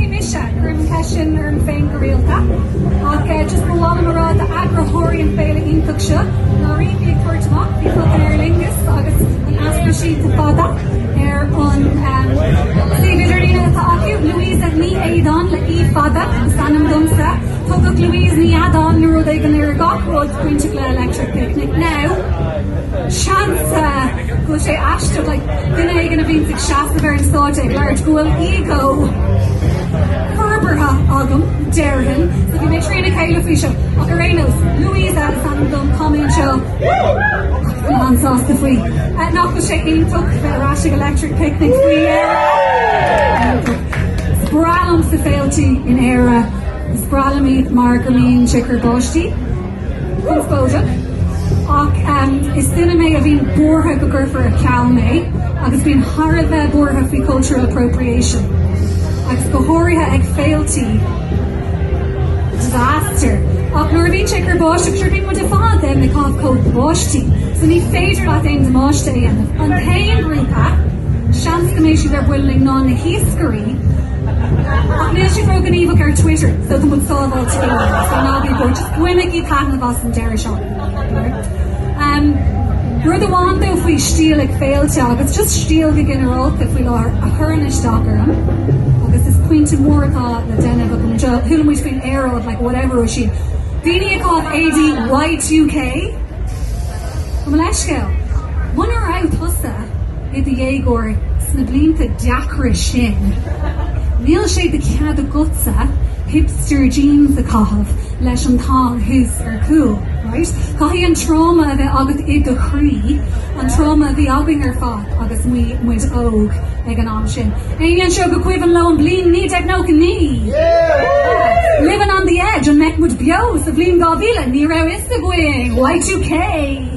Bhí mise ag cur an cheist sin orm féin go rialta ach just ba mhaith liom a rá d'eagraitheoirí an féile iontach seo, nuair a bhí mé ag tabhairt amach faoi fucking Aer Lingus agus an easpa síntí fada ar an suíomh idirlíne atá acu, Louisa Ní Éideáin le í fada is ainm domsa, tugadh Louise Ní Eadán nó rud éigin ar gach rud bainteach le Electric Picnic. Now, seans a. go bhfuil sé aisteach ag duine éigin a bhíonns ag seasamh ar an stáitse ag labhairt go bhfuil ego forbartha agam, déarfainn, so bhí mé trína chéile faoi seo. Ach ar aon nós, Louisa is ainm dom tá mé anseo agus tá mé an-sásta faoi. Nach bhfuil sé iontach bheith ar ais ag Electric Picnic faoi dheireadh? Is breá liomsa féiltí in Éire, is breá liom iad mar go mbíonn sé ag cur báistí. Conspóideach. Ach is duine mé a bhíonn buartha go gcuirfear ar ceal mé agus bím thar a bheith buartha faoi cultural appropriation, agus go háirithe ag féiltí. Disaster. Ach nuair a bhíonn sé ag cur báistí, sure bíonn muid ar fad ag caitheamh cóta báistí so ní féidir leat aon damáiste a dhéanamh. An t-aon ghrúpa. Seans go mbeidh siad ar buile linn ná na hiascairí ach níl siad ró-ghníomhach ar Twitter so tá muid sábháilte go leor, so ná bí buartha, just bainigí taitneamh as an deireadh seachtaine. Rud amháin though faoi stíl ag féilte agus just stíl go ginearálta faoi láthair a chuireann isteach orm agus is pointe mór atá le déanamh agam anseo, chuala muid faoin aeráid like whatever faoi sin. Daoine ag caitheamh éadaí Y2K? Gabh mo leithscéal. Muna raibh tusa i do dhéagóir sna blianta deacra sin, níl sé de chead agatsa hipster jeans a chaitheamh leis an thong thuas ar chúl, right? Caithfidh an tráma a bheith agat i do chroí, an tráma a bhí againn ar fad agus muid óg ag an am sin. Éinne anseo gur cuimhin leo an bhliain 1999? Yeah! Living on the edge, an mbeidh muid beo sa bhliain 2000? Ní raibh fhios againn! Y2K!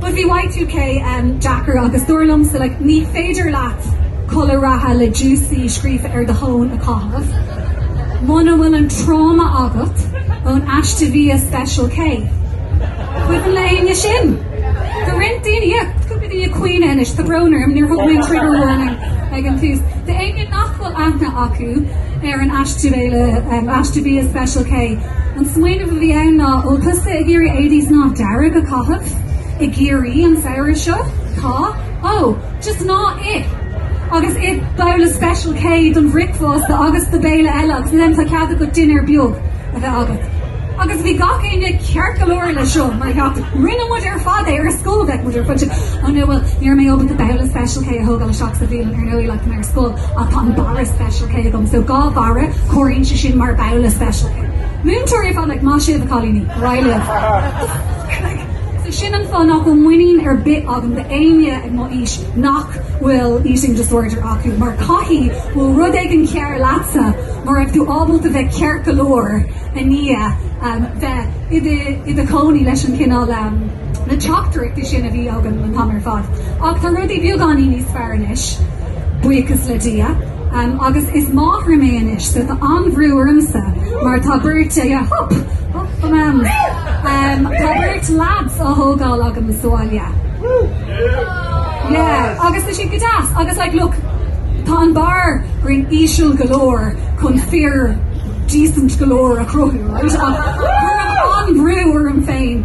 But bhí Y2K ehm deacair agus dúradh liomsa like ní féidir leat culaith reatha le Juicy scríofa ar do thóin a chaitheamh muna bhfuil an tráma agat ón aiste bhia Special K. Cuimhin le héinne sin? Tá roinnt daoine yeah, cúpla daoine ag caoineadh anois, tá brón orm, níor thug mé an trigger warning ag an tús. D'éinne nach aithne acu ar an aiste béile, aiste bhia Special K. An smaoineamh a bhí ann ná bhfuil tusa ag iarraidh éadaí snámha dearg a chaitheamh i gCiarraí an samhradh seo? Tá? Ó, just ná ith! Agus ith babhla Special K don bhricfeasta agus do béile eile agus ansin tá cead agat dinnéar beag a bheith agat. Agus bhí gach éinne ceart go leor leis seo mar gheall rinne muid ar fad é ar scoil bheadh muid ar fad oh no bhuel ní raibh mé ábalta babhla Special K a thógáil isteach sa bhialann ar ndóigh like mar scoil ach tá an barra Special K agam so dhá bharra comhaireann sé sin mar babhla Special K. Múinteoirí ag fanacht maith sibh a chailíní. Go raidh libh. So sin an fáth nach bhfuil muinín ar bith agam d'éinne ag mo aois nach bhfuil eating disorder acu mar caithfidh go bhfuil rud éigin cearr leatsa mar raibh tú ábalta bheith ceart go leor i ndiaidh bheith i do chónaí leis an chineál na teachtaireachtaí sin a bhí agam an t-am ar fad. Ach tá rudaí beagáinín níos fearr anois, buíochas le Dia, agus is máthair mé anois, so tá an-bhrú ormsa mar tá beirt ag hup! Hup for mams! Tá beirt lads á thógáil agam sa bhaile. Yeah, agus tá siad go deas, agus like look, tá an bar grinn íseal go leor chun fear decent go leor a cruthú, right? Ach tá an-bhrú orm féin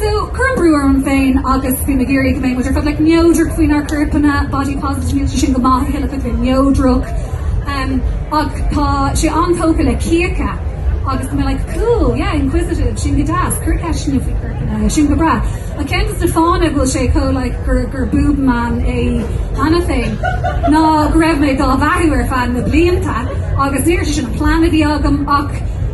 So, cuirim brú orm féin agus bím ag iarraidh go mbeidh muid ar fad like neodrach faoinár gcorpanna, body positive, níl sé sin go maith a thuilleadh faic le neodrach umm ach tá sé an-tógtha le cíocha agus tá mé like cool, yeah, inquisitive, sin go deas, cuir ceisteanna faoi chorpanna, sin go breá. Ach ceann dos na fáthanna go bhfuil sé chomh like gur gur boob man é cheana féin ná go raibh mé dá bheathú ar feadh na blianta agus níor sé sin an plean a bhí agam ach